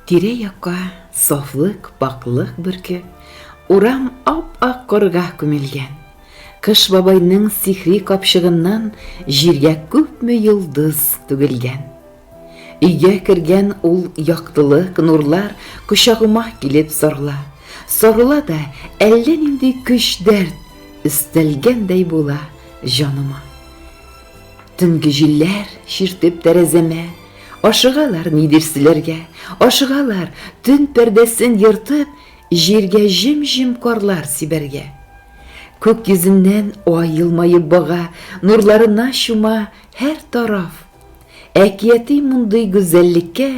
Тирә-якка сафлык, пакълык бөрке, урам ап-ак корга күмелгән. Кыш бабайның сихри капчыгыннан җиргә күпме йолдыз түгелгән. Өйгә кергән ул яктылык, нурлар Кочагыма килеп сарыла. Сарыла да, әллә нинди көч-дәрт Өстәлгәндәй була җаныма. Төнге җилләр чиртеп тәрәзәмә, Ашыгалар нидер сөйләргә, ашыгалар, Төн пәрдәсен ертып, җиргә җем-җем карлар сибәргә. Күк йөзеннән ай елмаеп бага, Нурларына чума һәр тараф. Әкияти мондый гүзәллеккә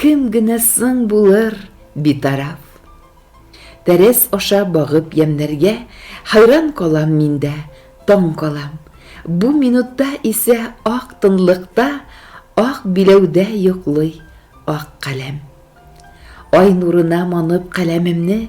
Кем генә соң булыр битараф? Тәрәз аша багып ямьнәргә Хәйран калам мин дә, таң калам. Бу минутта исә ак тынлыкта Ак биләүдә йоклый ак каләм. Ай нурына манып каләмемне,